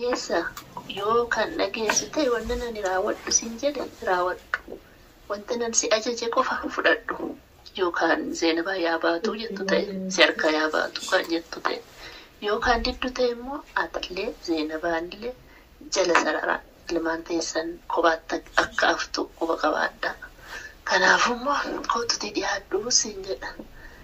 Eessa? Yoo kan dhageessu ta'e wannan ani raawwadhu siin jedhe raawwadhu. Wantan an si ajaje qofa fudhadhu. Yoo kaan Zeenabaa yaa baatu jettu ta'e si harkaa yaa baatu kan jettu ta'e. Yoo kaan diddu ta'e immoo atillee Zeenabaanillee jala sarara ilmaan teessan kophaatti akka haftu quba qabaadhaa. Kanaafuu immoo koottutii dhiyaadhu siin jedha.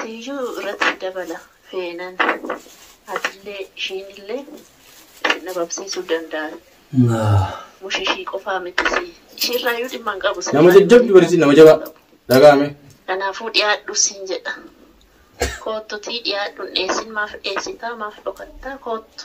Siyyuu irratti si dabala feenan atillee ishiinillee isin dhabamsiisuu danda'an. Mush ishii qofaa miti si ishiirraayyuu dhimma hin qabu. Nama jajjabdu barisiin nama jabaa dhaga'ame. Kanaafuu dhiyaadhu siin jedha. Koottutii dhiyaadhu hin dheessin maaf dheessitaa maaf dhokattaa koottu.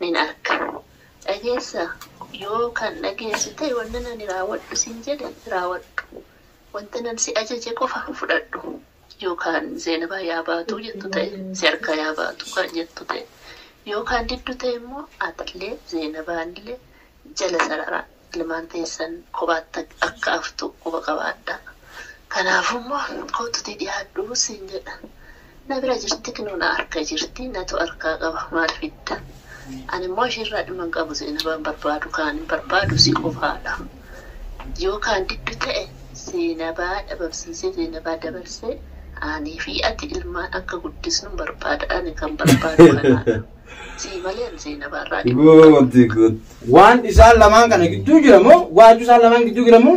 nin arka. Dhageessaa? Yoo kan dhageessu ta'e wannin ani raawwadhu siin jedhe raawwadhu. Wantin an si ajaje qofa fudhadhu. Yoo kaan Zeenabaa yaa baatu jettu ta'e, si harkaa yaa baatu kan jettu ta'e, yoo kaan diddu ta'e immoo atillee Zeenabaanillee jala sararaa. ilmaan teessan kophaatti akka haftu quba qabaadhaa. Kanaafuu immoo koottutii dhiyaadhu siin jedha. Na bira jirti kinoo na harka jirti natu harkaa qaba maal fidda. Ani immoo ishiirraa dhimma hin qabu Zeenabaan barbaadu kaan hin barbaadu si qofaadha. Yoo kaan diddu ta'e Zeenabaa dhabamsiisee Zeenabaa dabarsee anii fi ati ilmaan akka guddisnu barbaada ani kan barbaadu kanaadha. Sii malee an sii na baarraa jiru. Good, good. Waan isaan lamaan kana gidduu jira moo waaju isaan lamaan gidduu jira moo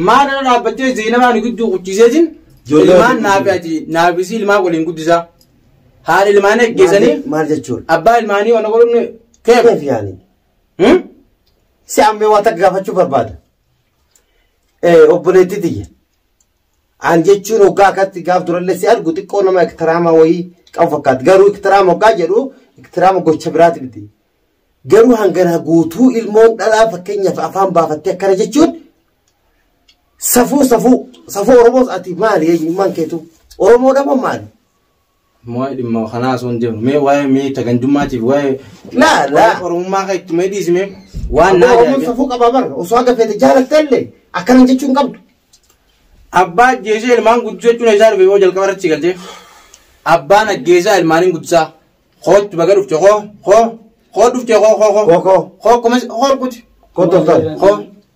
maal irra dhaabbattee Zeenabaa nu gidduu quchiisee jin Ijoollee ilmaan waliin naafi ati naafisii ilmaan waliin guddisaa haala ilmaanii ajjeesanii Maal jechuun? abbaa ilmaanii waan godhuun keef Keef yaani. Hmm? Si ammee waa takka gaafachuu barbaada. Eh, obboleettii tiyya. Aan jechuun hoggaa akkatti gaaf durallee si argu xiqqoo nama iktiraama wayii qabu fakkaata. Garuu iktiraama hoggaa jedhu iktiraama gocha biraati miti. Garuu hangana guutuu ilmoon dhalaa fakkeenyaaf afaan baafattee akkana jechuun safuu safuu safuu Oromoos ati maali eenyummaan keetu Oromoodha moo maali? Waa'ee dhimma kanaa osoo hin deemnu mee waa'ee miita gandummaatiif waa'ee Laa, laa. waa'ee oromummaa kan itti mee dhiisime waan naa Oromoon jaabe. safuu qabaa bara. Osoo haga feete jaalattee illee akkanan jechuu hin qabdu. Abbaa ajjeesee ilmaan guddisuu jechuun isaa dhufe yoo jalqaba irratti galtee. Abbaan ajjeesaa ilmaaniin guddisaa. Kootti baga dhufte koo koo koo dhufte koo koo koo Koo, koo. koo kumas koo kuti Koo toltoo. koo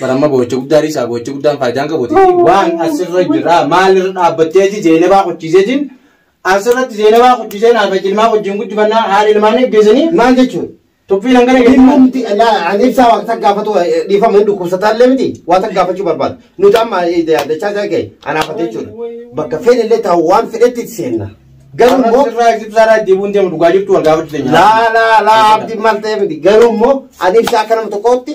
Baramma boo'icha guddaa dhiisaa boo'icha guddaan faayidaan qabuuti. Waan asirra jira maalirra dhaabbattee ji zeenabaa qochiisee jin asirratti zeenabaa qochiisee naaf ilmaa wajjin guddifannaa haala ilmaan eeggeessanii maal jechuun tuffiin hangana Dhimma keessaa nuti laa ani ibsaa waan takka gaafatu eh, dhiifama hin dhukkubsataa illee miti waan takka gaafachuu barbaadu nuti amma eh, da- dachaa isaa ga'e anaafate jechuudha bakka fedhe illee ta'u waan fedhetti itti seenna garuu immoo asirraa ibsaarraa deemuun deemu dhugaa jirtu wal gaafachuu danda'a. laa laa laa abdi maal ta'e miti garuu immoo ani ibsaa akka nama tokkootti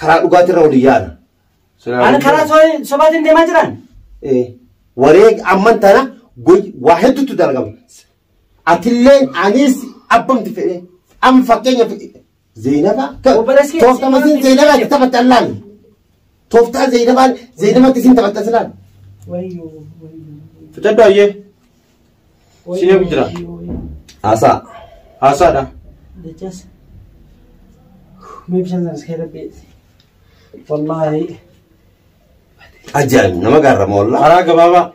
Karaa dhugaati irra waliin yaana. Ani karaa so- sobaatiin deemaa jiraan. Eh, Wareeg amman tana goy- waa hedduutu dalagama. Atillee anis abbamti fedhe. Amma fakkeenyaaf Zeenaba. Obboleessi kee Tooftama isin Zeenabaa itti taphatte allaan. Tooftaa Zeenabaan Zeenabatti isin taphatte aslaan. Wayyoo wayyoo. Fudhadhu hayyee. Si eegu jira. Haasaa. Haasaadha. Dachas. Mee bishaan sana iskee rabbii. Wallaahi. Ajaa'ib nama gaarra moollaa. Karaa gabaabaa.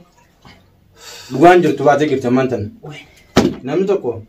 Dhugaan jirtu baatee jirti ammaan tana. Namni tokko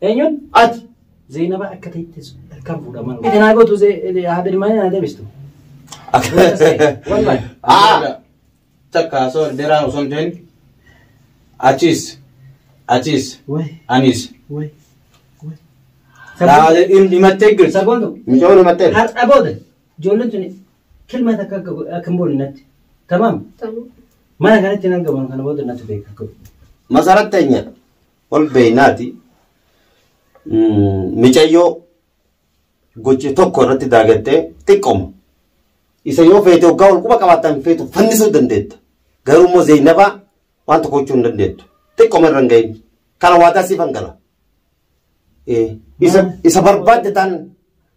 Eenyuun? Ati. Zeenaba akka ta'etti kan fuudhaman. Ati naa gootu haadha ilmaanii naa deebistu. Wallahi. Ah! Takka osoo dheeraan osoo hin ta'in achiis achiis Wai anis wai. dhaabee himattee girti. Saboontu. Micoon himattee. Har'a booda ijoolleen tuni kilma takka akka go- akka hin boone natti. Tamaam. Tamam. Mana kanatti hin argaman kana booda natti beeka. Masarat teenya ol beeynaati micayyoo gocha tokko irratti daagattee xiqqooma. Isa yoo feete waggaa wal quba qabaattan feetu fannisuu dandeetta. Garuu immoo Zeynabaa waan tokko gochuu hin dandeettu. Xiqqooma irra hin gahin. Kana waadaa siif hangala. Isa barbaadde taan